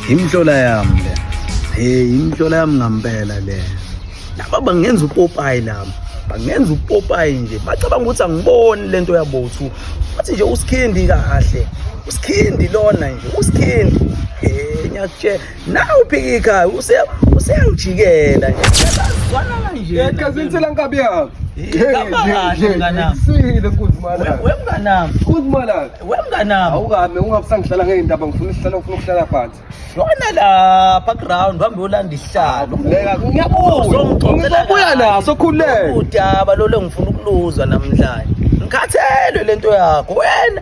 yimhlola yami le hey yimhlola yami ngampela le laba bangenza upopayi lami bangenza upopayi nje bacabanga ukuthi angiboni le nto yabothu bathi nje usikhindi kahle usikhindi lona nje usikhindi um ngiyakutshela Nawu phikika use useyangijikela nje. Sibazwana kanje. Yeka zinsela nkabi yakho. Sile kuzimala. Wemnganami. Kuzimala. Wemnganami. Awukame ungabusangihlala ngeindaba ngifuna isihlalo ngifuna ukuhlala phansi. Yona lapha ground hamba yolanda isihlalo. Ngeka ngiyabuza. Ngizobuya naso khuleka. Udaba lolo ngifuna ukuluzwa namhlanje. Ngikhathelwe lento yakho wena.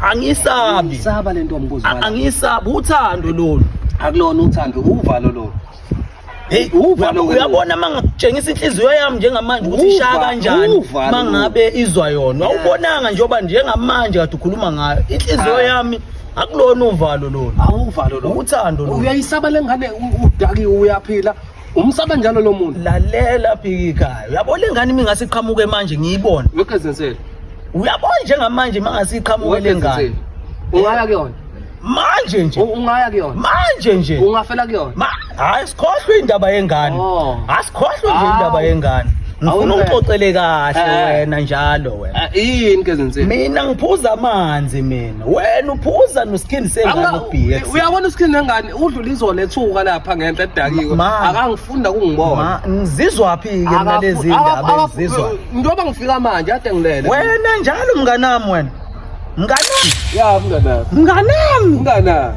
angisabi saba lento mbuzo angisabi uthando lolu akulona uthando uvalo lolu Hey uvalo uyabona mangitshengisa inhliziyo yami njengamanje ukuthi ishaya kanjani mangabe izwa yona awubonanga njengoba njengamanje kade ukhuluma ngayo inhliziyo ah. yami akulona uvalo lolu awuvalo lolu uthando lolu uyayisaba lengane udakiwe uyaphila umsaba njalo lo muntu lalela phikikayo yabo le ngane uma ingase iqhamuke manje ngiyibone wekezensele uyabona njengamanje uma ngase iqhamuke le ngane ungaya kuyona manje nje ungaya kuyona manje nje ungafela kuyona hayi sikhohlwe indaba yengane oh. asikhohlwe nje indaba yengane ngifuna ungixoxele kahle eh. wena njalo wena eh, yini ke zinzima mina ngiphuza amanzi mina wena uphuza noskin sengane ubx uyabona uskin nengane udlula izona ethuka lapha ngenhla edakiwe akangifunda kungibona ngizizwaphi ke mina lezi ndaba ngizizwa njengoba ngifika manje ade ngilele wena njalo mnganami wena mnganami ya mnganami mnganami mnganami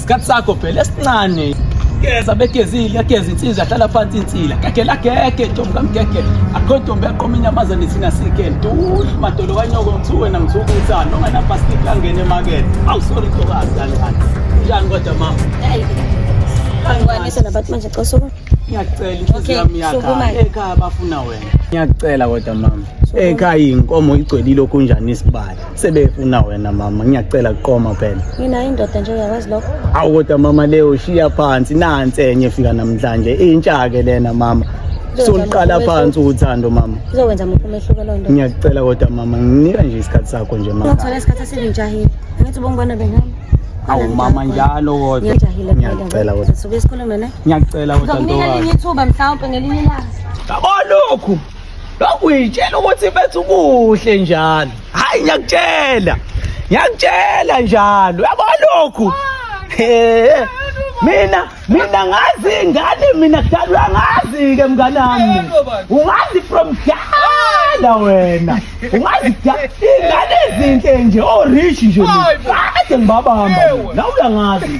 Isikhathi sakho phela esincane. Geza begezile yageza insizwa ahlala phansi insila gagela gege ntombi kamgege akho ntombi yaqoma inyamazane thina sike ntuhlu madolo kanyoko ngithu wena ngithuka uthando onganabhasikiti angene emakethe awu sorry ntokazi kanjani njani kodwa mama Ngwanisa nabantu manje cela sukuma. Ngiyacela inhliziyo yami yakha ekhaya bafuna wena. Ngiyacela kodwa mama. Ekhaya inkomo igcwele lokhu njani isibali. sebefuna wena mama ngiyacela kuqoma phela mina indoda nje uyakwazi lokho awu kodwa mama leyo shiya phansi nansi enye fika namhlanje intsha ke lena mama soluqala phansi uthando mama izokwenza muphi umehluko lo nto ngiyakucela kodwa mama nginika nje isikhathi sakho nje mama ngithola isikhathi esinjahile angithi ubongibona bengihamba awu mama njalo kodwa ngiyacela kodwa sobe sikhulume ne ngiyacela kodwa ntokazi nginika ithuba mhlawumbe ngelinye ilanga yabo lokhu lokhu uyitshela ukuthi mfethu kuhle njalo hayi ngiyakutshela ngiyakutshela njalo yabo lokhu Eh, mina mina ngazi ingane mina kudala uyangazi ke mngane wami ungazi from kudala wena ungazi kudala ingane ezinhle nje orich nje mina. kade ngibabamba mina. nawe uyangazi